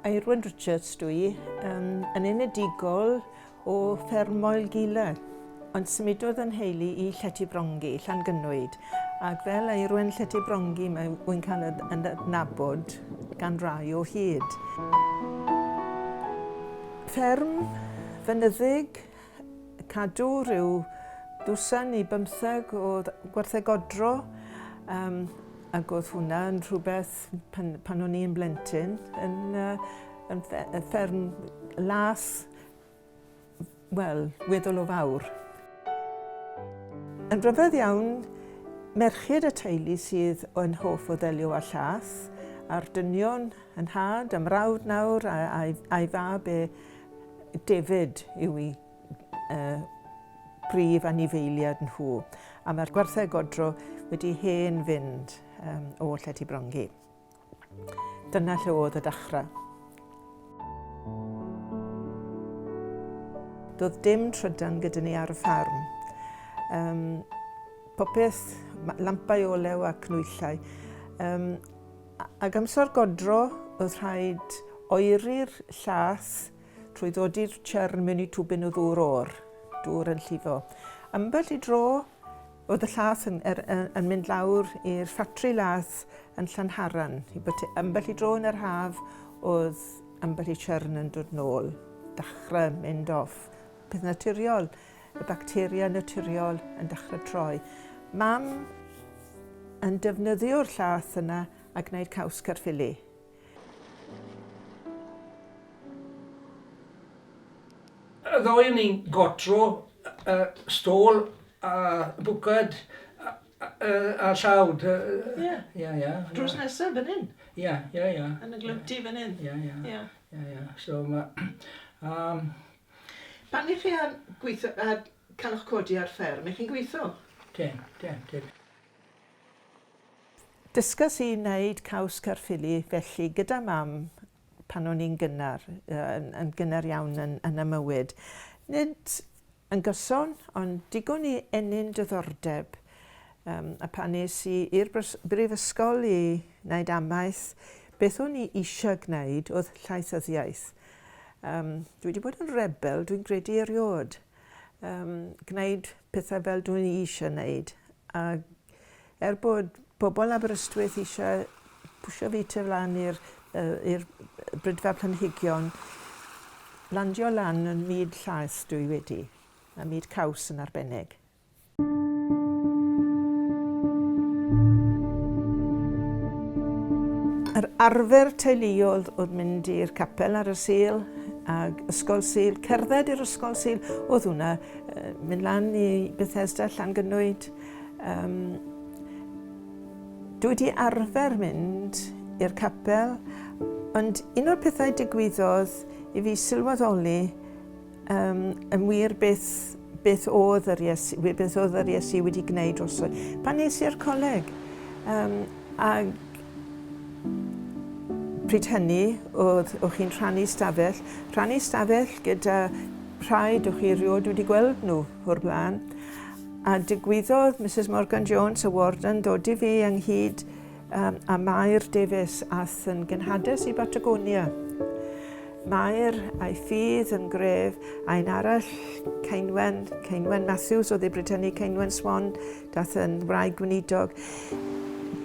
Irwin Richards dwi, um, yn enedigol o Ffermoel Gila, ond symudodd yn heili i Llety Brongi, Llangynwyd, ac fel Irwin Llety Brongi mae wy'n cael yn adnabod gan rai o hyd. Fferm fynyddig cadw rhyw dwsin i bymtheg o gwartheg godro um, ac oedd hwnna yn rhywbeth pan, pan o'n i'n blentyn yn, uh, yn fferm las wel, weddol o fawr. Yn rhyfedd iawn, merched y teulu sydd yn hoff o ddelio â llath, a'r dynion yn had, am rawd nawr a'i fab e David yw i y brif anifeiliad nhw, a mae'r gwartheg godro wedi hen fynd um, o lle ti brongi. Dyna lle oedd y dachrau. Doedd dim trydan gyda ni ar y ffarm. Um, popeth, lampau olew a cnwyllau. Um, Ag amser godro, oedd rhaid oeri'r llath trwy ddodi'r churn mewn i twbyn o ddŵr o'r dŵr yn llifo. Ambell i dro, oedd y llath yn, er, yn mynd lawr i'r ffatri lath yn Llanharan. Ambell i dro yn yr haf, oedd ambell i churn yn dod nôl, dachrau mynd off. Peth naturiol. y bacteria naturiol yn dechrau troi. Mam yn defnyddio'r llath yna a gwneud caws carffili. Ddoe ni'n gotro y stôl a bwcad a llawd. Ie. Ie, ie. Drws nesaf fan hyn? Ie, ie, ie. Yn y glwti fan hyn? Ie, ie. Ie. Ie, ie. So mae... Pan ych chi ar gweitho a cael eich codi ar fferm, ych chi'n gweitho? Dim, dim, dim. Dysgais i wneud caws Caerffili felly gyda Mam pan o'n i'n gynnar, yn, yn gynnar iawn yn, yn y mywyd. Nid yn gyson, ond digon i ennyn diddordeb. Um, a pan es i i'r brifysgol i wneud amaeth, beth o'n i eisiau gwneud oedd llaethyddiaeth. Um, dwi wedi bod yn rebel, dwi'n gredu eriod. Um, gwneud pethau fel dwi'n eisiau gwneud. A er bod pobl Aberystwyth eisiau pwysio fi tu flan i'r uh, brydfa planhigion, landio lan yn myd llaeth dwi wedi, a myd caws yn arbennig. Yr arfer teuluol oedd mynd i'r capel ar y Sul ag Ysgol Sul, cerdded i'r Ysgol Sul, oedd hwnna mynd lan i Bethesda Llangynwyd. Um, dwi wedi arfer mynd i'r capel, ond un o'r pethau digwyddodd i fi sylweddoli Um, yn wir beth, beth oedd yr Iesu, beth oedd yr Iesu wedi gwneud drosodd. Pan nes i'r coleg, um, ag pryd hynny, oedd, o'ch chi'n rhannu stafell, rhannu stafell gyda rhai o'ch chi erioed wedi gweld nhw o'r blaen. A digwyddodd Mrs Morgan Jones, y warden, dod i fi ynghyd Yym, a Mair Davies ath yn genhades i Batagonia. Mair a'i ffydd yn gref, a un arall, Ceinwen, Ceinwen Matthews o ddibrytennu Ceinwen Swan, dath yn wraig gweinidog.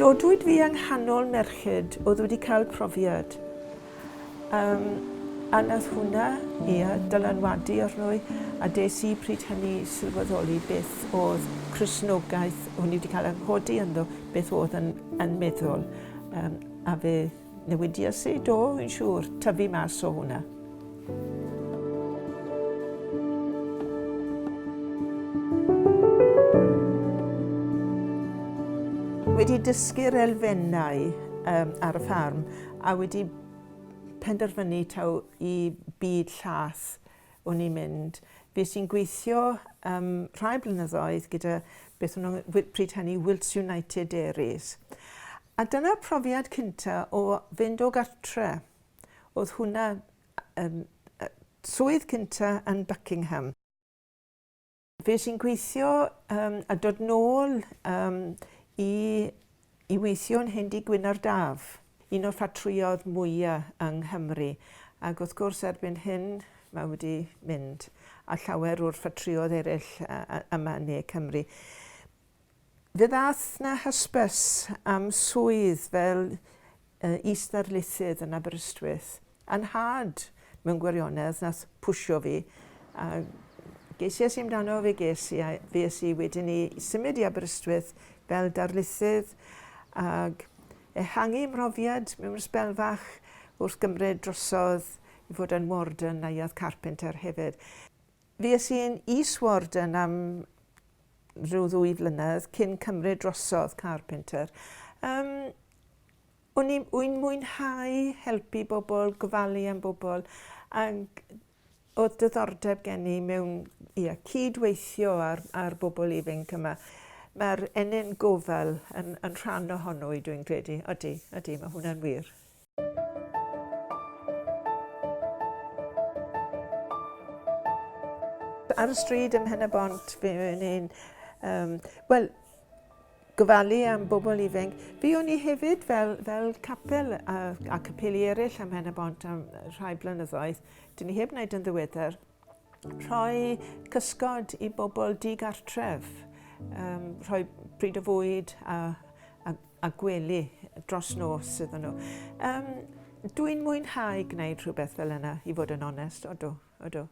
Dodwyd fi yng nghanol merched oedd wedi cael profiad. Yym, a nath hwnna, ia, dylanwadu arno i, a des i pryd hynny sylweddoli beth o'dd Cristnogaeth, o'n i 'di ca'l 'y nghodi ynddo, beth o'dd yn yn meddwl. Yym, a fe newidias i, do, fi'n siŵr, tyfu mas o hwnna. Wedi dysgu'r elfennau yym ar y ffarm, a wedi penderfynu taw i byd llaeth o'n i'n mynd. Fues i'n gweithio um, rhai blynyddoedd gyda beth o'n nhw pryd hynny Wilts United Dairies. A dyna'r profiad cynta o fynd o gartre. Oedd hwnna um, swydd cynta yn Buckingham. Fues i'n gweithio um, a dod nôl um, i, i weithio yn Hendy Gwyn ar Daf, un o'r ffatrïodd mwyaf yng Nghymru. Ac wrth gwrs erbyn hyn mae wedi mynd a llawer o'r ffatrïodd eraill yma yn ne Cymru. Fe ddaeth 'na hysbys am swydd fel is-ddarlithydd yn Aberystwyth, a 'nhad, mewn gwirionedd, wnaeth pwsio fi, a ges i es i amdano, fe ges i, a fues i wedyn i symud i Aberystwyth fel darlithydd, ac ehangu mhrofiad mewn sbel fach wrth gymryd drosodd i fod yn warden Neuadd Carpenter hefyd. Fues i yn Eastwarden am rhyw ddwy flynedd cyn cymryd drosodd Carpenter. Um, o'n i'n mwynhau helpu bobl, gofalu am bobl, ac oedd dyddordeb gen i mewn ia, cyd-weithio ar, ar bobl ifanc yma. Mae'r ennyn gofal yn, yn rhan ohono i dwi'n credu. Odi, odi, mae hwnna'n wir. Ar y stryd ym Mhen-y-bont, fe o'n i'n um, wel, gofalu am bobl ifanc. Fi o'n i hefyd fel, fel capel a, a capeli eraill am hen y bont am rhai blynyddoedd. Dyn ni heb wneud yn ddiweddar. Rhoi cysgod i bobl digartref, um, rhoi pryd o fwyd a, a a gwely dros nos iddyn nhw. Um, Dwi'n mwynhau gwneud rhywbeth fel yna, i fod yn onest, odw, odw.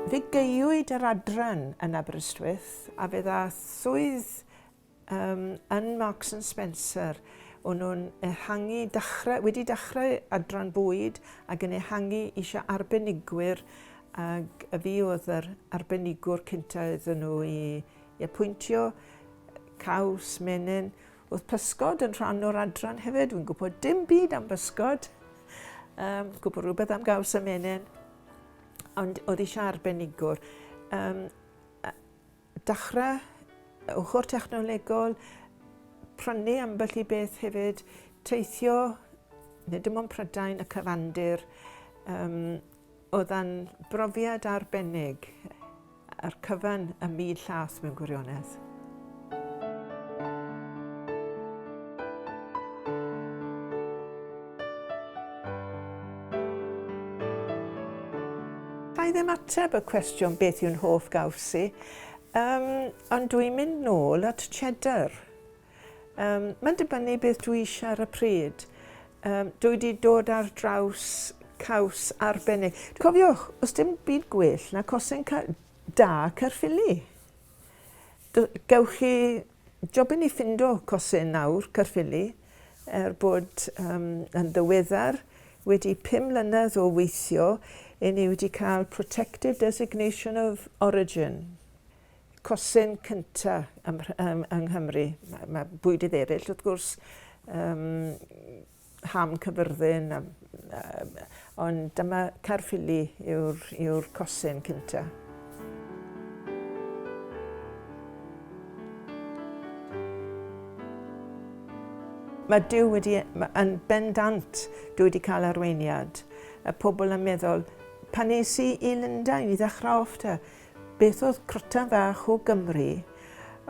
Fe geiwyd yr adran yn Aberystwyth a fe dda swydd Yym, yn Marks and Spencer, o'n nhw'n ehangu, dechrau, wedi dechrau adran bwyd ac yn ehangu eisiau arbenigwyr ac y fi oedd yr arbenigwr cynta iddyn nhw i, i apwyntio, caws, menyn. Oedd pysgod yn rhan o'r adran hefyd, fi'n gwybod dim byd am bysgod, um, gwybod rhywbeth am gaws a menyn, ond oedd eisiau arbenigwr. Um, Dechrau, y ochr technolegol, prynu ambell i beth hefyd, teithio, nid dim ond Prydain, y cyfandir, um, oedd yn brofiad arbennig a'r cyfan y mil llas mewn gwirionedd. Dwi ddim ateb y cwestiwn beth yw'n hoff gawsi, um, ond dwi'n mynd nôl at cheddar. Um, mae'n dibynnu beth dwi eisiau ar y pryd. Um, dwi wedi dod ar draws caws arbennig. Cofiwch, os dim byd gwell na cosen ca da Caerffili. Gewch chi Job i ni ffindo cosin nawr, Caerffili, er bod um, yn ddiweddar, wedi pum mlynedd o weithio, i ni wedi cael Protected Designation of Origin, cosin cynta ym, ym, yng Nghymru. Mae, mae bwyd i dderyll, wrth gwrs, um, Ham Cyfyrddin a yym ond dyma Caerffili yw'r yw'r cosyn cynta. Mae Duw wedi e- ma- yn bendant Duw wedi cael arweiniad y pobl yn meddwl pan es i i Lundain i ddechrau off te Beth oedd Crutan Fach o Gymru?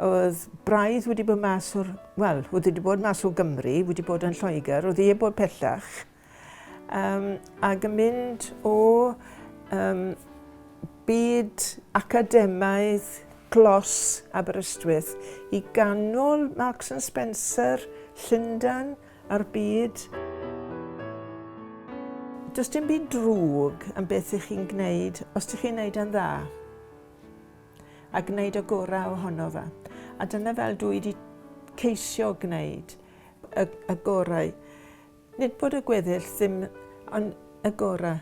Oedd braidd wedi bod mas o'r... Wel, oedd wedi bod mas o Gymru, wedi bod yn Lloegr, oedd wedi bod pellach. Um, ac yn mynd o um, byd academaidd glos Aberystwyth i ganol Marks and Spencer, Llundan, a'r byd. Does dim byd drwg yn beth ych chi'n gwneud os ydych chi'n gwneud e'n dda a gwneud y gorau ohono fe. A dyna fel dwi wedi ceisio gwneud y, y gorau. Nid bod y gweddill ddim ond y gorau.